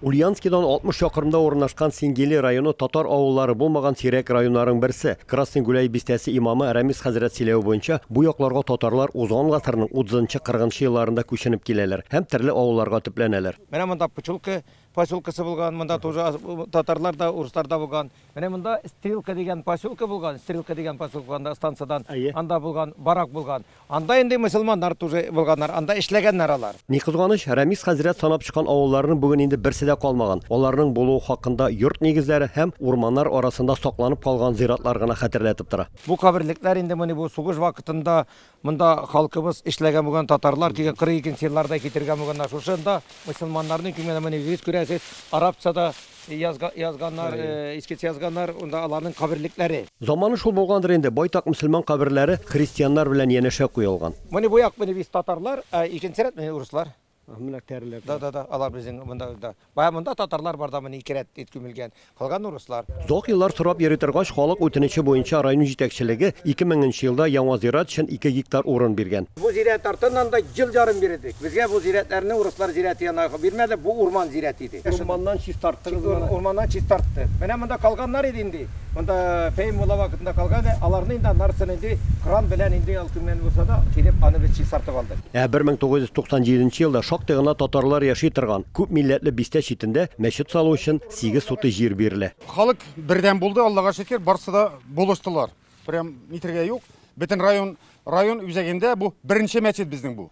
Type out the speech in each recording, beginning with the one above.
Ульяновскидан 60 чакрымда урынашкан Сингели районы татар авыллары булмаган сирәк районнарың берсе. Красный Гуляй бистәсе имамы Рәмис хәзрәт сөйләве буенча, бу якларга татарлар узган гасырның 30-40 нчы елларында күченеп киләләр һәм төрле авылларга төпләнәләр. Менә монда Пчелка поселкасы булган, монда тоже татарлар да, урыслар да булган. Менә монда Стрелка дигән поселка булган, Стрелка дигән поселкада станциядән анда булган, барак булган. Анда инде мөселманнар тоже булганнар, анда эшләгәннәр алар. Ни кызганыч, Рәмис хәзрәт санап чыккан авылларның бүген инде берсе дә калмаган, аларның булуы хакында йорт нигезләре һәм урманнар арасында сакланып калган зиратлар гына хәтерләтеп тора. Бу каберлекләр инде моны бу сугыш вакытында монда халкыбыз эшләгән булган, татарлар килгән, 42 нче елларда китергән булганнар, шушында мөселманнарның күмелгән, менә үзегез күрәсез, арабца да Язга, язганнар, искиц язганнар, унда аларның каберлекләре. Заманы шул булгандыр инде, байтак мөселман каберләре христианнар белән янәшә куелган. Моны бу як мени без татарлар, ә икенче рәт мени урыслар. Менә тәреләр. Да, да, да, алар безнең монда да. Бая монда татарлар бар да моны ике рәт ит күмелгән. Калган урыслар. Зак еллар сорап йөри торгач, халык үтенече буенча район җитәкчелеге 2000 нче елда яңа зират өчен 2 гектар урын биргән. Бу зират артыннан да ел ярым йөредек. Безгә бу зиратларны урыслар зираты янына бирмәде, бу урман зираты иде. Урманнан чистарттыгызмы аны? Урманнан чистарттык. Менә монда калганнар иде инде. Монда Фәһим мулла вакытында калган иде. Аларны инде аннарысын инде кран белән инде ул кемнән булса да килеп аны без чистартып алдык. Ә 1997 нче елда шактый гына татарлар яши торган күп милләтле бистә читендә мәчет салу өчен сигез сутый җир бирелә. Халык бердәм булды, Аллага шөкер, барсы да булыштылар. Прям нитергә юк. Бөтен район район үзәгендә бу беренче мәчет безнең бу.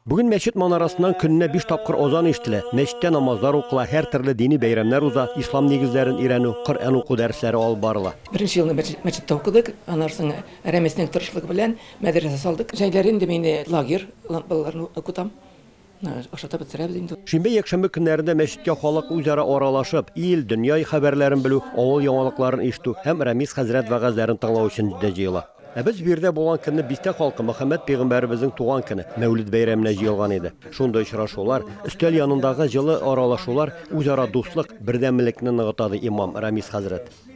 Бүген мәчет манарасыннан көненә биш тапкыр азан ишетелә, мәчеттә намазлар укыла, һәр төрле дини бәйрәмнәр уза, ислам нигезләрен өйрәнү, Коръән уку дәресләре алып барыла. Беренче елны мәчеттә укыдык, аннан соң Рәмисның тырышлыгы белән мәдрәсә салдык. Җәйләре инде мин лагерь балаларны укытам. Ашатып бетерәбез инде. Шимбә-якшәмбе көннәрендә мәчеткә халык үзара аралашып, ил, дөнья хәбәрләрен белү, авыл яңалыкларын ишетү һәм Рәмис хәзрәт вәгазьләрен тыңлау өчен дә җыела. Ә без биредә булган көнне бистә халкы Мөхәммәд пигамбәребезнең туган көне, Мәүлид бәйрәменә җыелган иде. Шундый очрашулар, өстәл янындагы җылы аралашулар үзара дуслык, бердәмлекне ныгыта, ди имам Рәмис хәзрәт.